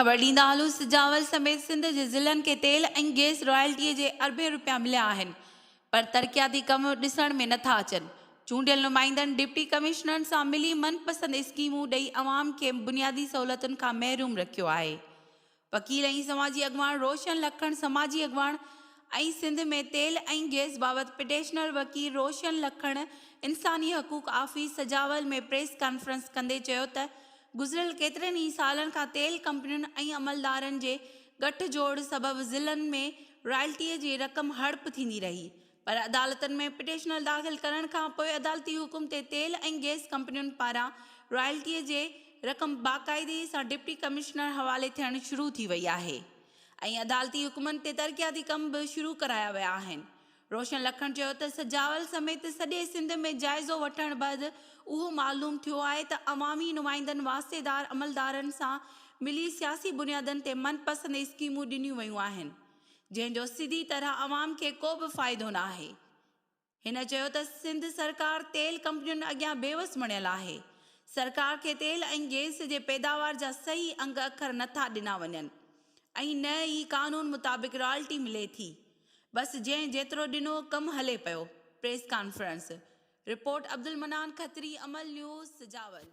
خبر ڏيندا هلون سجاول سميت سنڌ جي ضلعن کي تيل ۽ گئس رائلٽيء جي اربين رپيا مليا آهن پر ترقياتي ڪم ڏسڻ ۾ نٿا اچن چونڊيل نمائندن ڊپٽي ڪمشنرن سان ملي من پسند اسڪيمون ڏئي عوام کي بنيادي سهولتن کان محروم رکيو آهي وڪيل ۽ سماجي اڳواڻ روشن لکڻ سماجي اڳواڻ ۽ سنڌ ۾ تيل ۽ گئس بابت پٽيشنر وڪيل روشن لکڻ انساني حقوق آفيس سجاول ۾ پريس ڪانفرنس ڪندي چيو ته گذريل ڪيترن ئي سالن کان تيل ڪمپنين ۽ عملدارن جي ڳٺ جوڙ سبب ضلعن ۾ رائلٽيء جي رقم هڙپ ٿيندي رهي پر عدالتن ۾ پٽيشنل داخل ڪرڻ کان پوء عدالتي حڪم تي تيل ۽ گئس ڪمپنين پاران رائلٽيء جي رقم باقاعدي سان ڊپٽي ڪمشنر حوالي ٿيڻ شروع ٿي وئي آهي ۽ عدالتي حڪمن تي ترقياتي ڪم به شروع ڪرايا ويا آهن. روشن لکڻ چيو ته سجاول سميت سڄي سنڌ ۾ جائزو وٺڻ بعد اهو معلوم ٿيو آهي ته عوامي نمائندن واسطيدار عملدارن سان ملي سياسي بنيادن تي من پسند اسڪيمون ڏنيون ويون آهن جنهن جو سڌي طرح عوام کي ڪو به فائدو نه آهي. هن چيو ته سنڌ سرڪار تيل ڪمپنين اڳيان بيوس بڻيل آهي، سرڪار کي تيل ۽ گيس جي پيداوار جا صحيح انگ اکر نه ٿا ڏنا وڃن ۽ نه ئي قانون مطابق رائلٽي ملي ٿي، بس جنهن جيترو ڏنو ڪم هلي پيو، press conference, report Abdul Mannan Khatri عمل نيوز سجاول.